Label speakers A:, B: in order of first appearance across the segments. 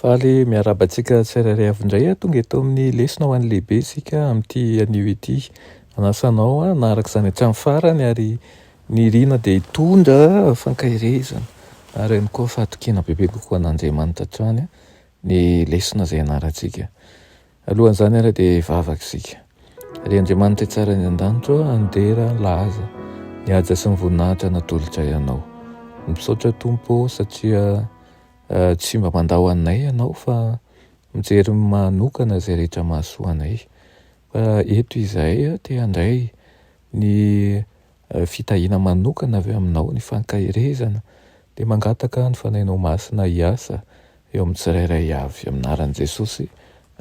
A: Faly miarahaba antsika tsirairay avy indray. Tonga eto amin'ny lesona ho an'ny lehibe isika amin'ity anio ity. Manasa anao hanaraka izany hatramin'ny farany ary ny irina dia hitondra fankahirezana ary ihany koa fahatokiana bebe kokoa an'Andriamanitra hatrany ny lesona izay ianarantsika. Alohan'izany ary dia hivavaka isika. Ry Andriamanitra tsara any an-danitra, handera laza ny haja sy ny voninahitra natolotray anao. Misaotra Tompo satria Tsy mba mandao anay ianao fa mijery manokana izay rehetra mahasoa anay. Fa eto izahay te handray ny fitahiana manokana avy aminao, ny fankaherezana, dia mangataka ny Fanahinao Masina hiasa eo amin'ny tsirairay avy. Amin'ny anaran'i Jesosy,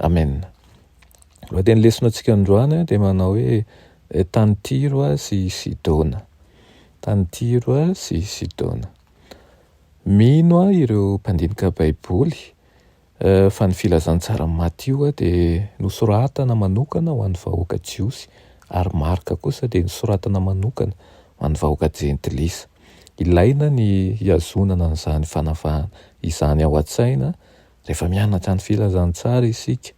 A: amen. Lohatenin'ny lesona antsika androany dia manao hoe tany Tyro sy Sidona. Tany Tyro sy Sidona. Mino aho ireo mpandinika Baiboly fa ny Filazantsaran'i Matio dia nosoratana manokana ho an'ny vahoaka Jiosy, ary Marka kosa dia nosoratana manokana ho an'ny vahoaka Jentilisa. Ilaina ny hihazonana an'izany fanavahana izany ao an-tsaina rehefa mianatra ny Filazantsara isika.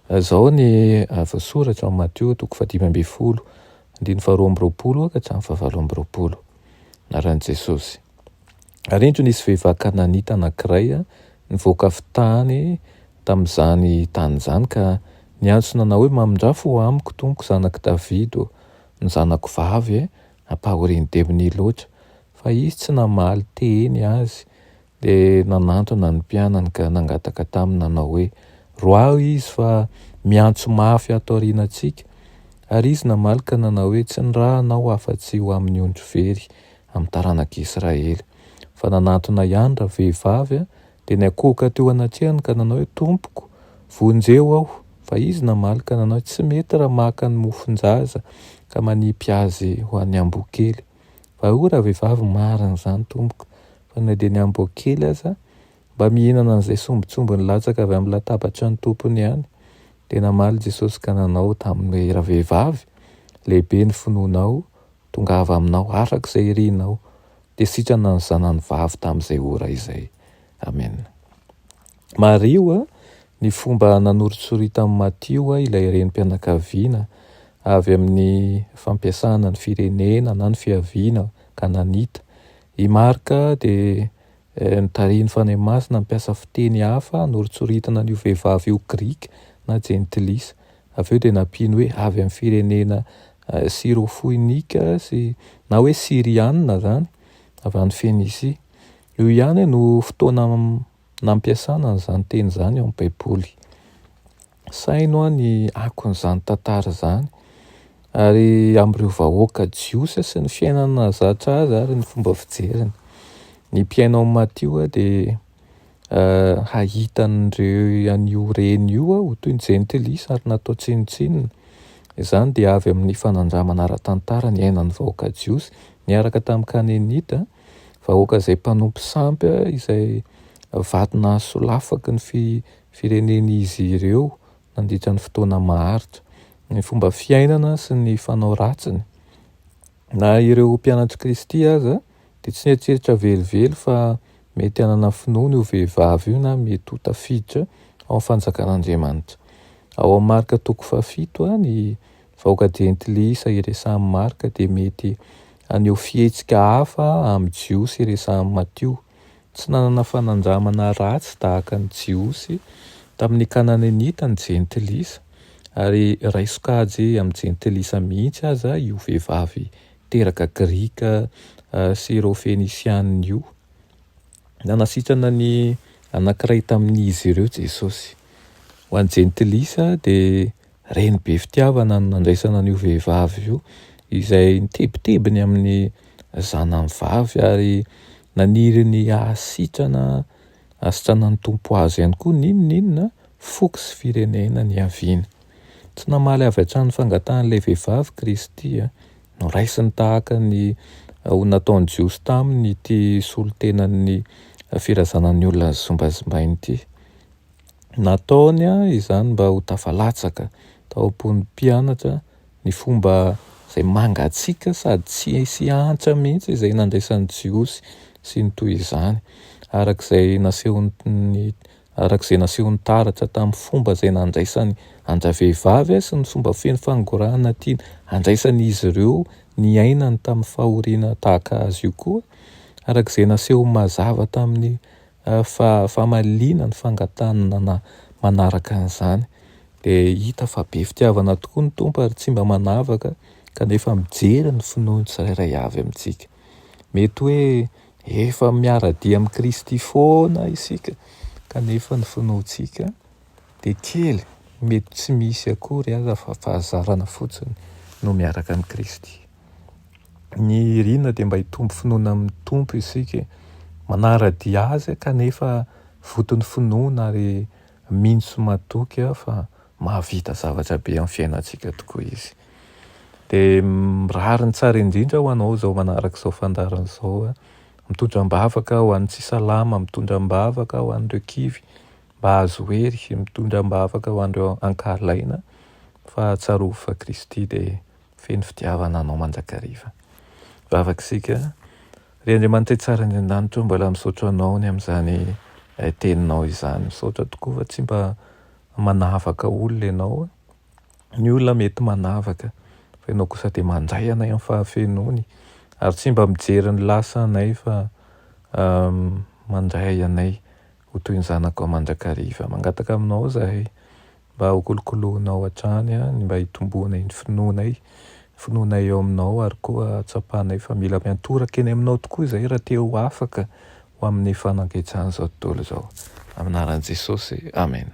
A: Izao ny voasoratra ao amin'ny Matio, toko fahadimy ambin'ny folo, andininy faharoa amby roapolo ka hatramin'ny fahavalo amby roapolo, Anaran'i Jesosy. Ary indro nisy vehivavy kananita anankiray nivoaka avy tany tamin'izany tany izany ka niantso nanao hoe, Mamindrà fo amiko, tompoko, zanak'i Davida ô! Ny zanako vavy ampahorian'ny demony loatra. Fa izy tsy namaly teny azy, dia nanantona ny mpianany ka nangataka taminy nanao hoe, Roaho izy fa miantso mafy ato aorianantsika. Ary izy namaly ka nanao hoe, Tsy ny ra anao afa-tsy ho amin'ny ondry very amin'ny taranak'Israely. Fa nanatona ihany ravehivavy dia niakohoka teo anatrehany ka nanao hoe, Tompoko, vonjeo aho! Fa izy namaly ka nanao hoe, Tsy mety raha maka ny mofon-jaza ka manipy azy ho an'ny amboakely. Fa hoy ravehivavy, Marina izany, tompoko, fa na dia ny amboakely aza mba mihinana an'izay sombintsombiny latsaka avy amin'ny latabatry ny tompony ihany. Dia namaly Jesosy ka nanao taminy hoe, Ravehivavy, lehibe ny finoanao, Tongava aminao araka izay irinao, dia sitrana ny zanany vavy tamin'izay ora izay. Amena. Mariho ny fomba nanoritsoritany Matio ilay renim-pianakaviana avy amin'ny fampiasana ny firenena na ny fiaviana kananita. I Marka dia notarihin'ny Fanahy Masina hampiasa fiteny hafa hanoritsoritana an'io vehivavy io Grika na Jentilisa. Avy eo dia nampiany hoe avy amin'ny firenena Syro-Foinika sy na hoe Syriana izany, avy any Fenisia. Io ihany no fotoana nampiasana an'izany teny izany ao amin'ny Baiboly. Saino ny akon'izany tantara izany ary amin'ireo vahoaka jiosy sy ny fiainana zatra azy ary ny fomba fijeriny. Ny mpiaino an'i Matio dia hahita an'ireo an'io reny io aho toy ny jentilisa ary natao tsinontsinona. Izany dia avy amin'ny fanandramana ara-tantara niainan'ny vahoaka jiosy niaraka tamin'ny Kanenita, vahoaka izay mpanompo sampy izay vato nahasolafaky ny firenen'izy ireo nandritra ny fotoana maharitra. Ny fomba fiainana sy ny fanao ratsiny na ireo mpianatr'i Kristy aza dia tsy nieritreritra velively fa mety hanana finoana io vehivavy io na mety ho tafiditra ao amin'ny fanjakan'Andriamanitra. Ao amin'ny Marka toko fahafito, ny vahoaka jentilisa iresahin'i Marka dia mety haneho fihetsika hafa amin'ny Jiosy iresahin'i Matio. Tsy nanana fanandramana ratsy tahaka ny Jiosy tamin'ny Kananenita ny jentilisa, ary iray sokajy amin'ny jentilisa mihitsy aza io vehivavy teraka grika sy ireo fenisianina io. Nanasitrana ny anankiray tamin'izy ireo Jesosy. Ho an'ny Jentilisa dia reny be fitiavana ny nandraisana an'io vehivavy io izay nitebiteby ny amin'ny zanany vavy ary naniry ny hahasitrana Asitrana ny Tompo azy ihany koa n'inona inona foko sy firenena niaviany. Tsy namaly avy hatrany ny fangatahan'ilay vehivavy Kristy. Noraisiny tahaka ny ho nataon'ny Jiosy taminy ity solontenan'ny firazanan'ny olona nozimbazimbainy ity. Nataony izany mba ho tafalatsaka tao am-pon'ny mpianatra. ny fomba izay mangatsiaka sady tsy hisy hantra mihitsy izay nandraisan'ny Jiosy sy ny toy izany, araka izay nasehon'ny araka izay nasehon'ny taratra tamin'ny fomba izay nandraisan'ny andravehivavy sy ny fomba feno fangorahana tiany handraisan'izy ireo ny ainany tamin'ny fahoriana tahaka azy io koa, araka izay nasehony mazava tamin'ny Fa famaliana ny fangatahana manaraka an'izany. Dia hita fa be fitiavana tokoa ny Tompo ary tsy mba manavaka kanefa mijery ny finoan'ny tsirairay avy amintsika. Mety hoe efa miara-dia amin'i Kristy foana isika kanefa ny finoantsika dia kely, mety tsy misy akory aza fa fahazarana fotsiny no miaraka amin'i Kristy. Ny irina dia mba hitombo finoana amin'ny Tompo isika, manara-dia Azy kanefa voton'ny finoana ary mino sy matoky fa mahavita zavatra be amin'ny fiainantsika tokoa Izy. Dia mirary ny tsara indrindra ho anao izao manaraka izao fandaharana izao. Mitondra am-bavaka ho an'ny tsy salama, mitondra am-bavaka ho an'ireo kivy, Mba azo hery mitondra am-bavaka ho an'ireo ankahalaina fa tsarovy fa Kristy dia feno fitiavana anao mandrakariva. Mivavaka isika, Ry Andriamanitra Itsara any An-danitra ô, mbola misaotra Anao ny amin'izany Teninao izany. Misaotra tokoa fa tsy mba manavaka olona Ianao. Ny olona mety manavaka, fa Ianao kosa dia mandray anay amin'ny fahafenoany, ary tsy mba mijery ny lasa anay fa mandray anay. Ho toy ny zanakao mandrakariva. Mangataka aminao izahay mba hokolokoloinao hatrany ny mba hitomboanay ny finoanay, ny finoanay eo aminao ary koa hatsapanay fa mila miantoraka eny aminao tokoa izahay raha te ho afaka ho amin'ny fanagechan'izao tontolo izao. Amin'ny anaran'i Jesosy, amena.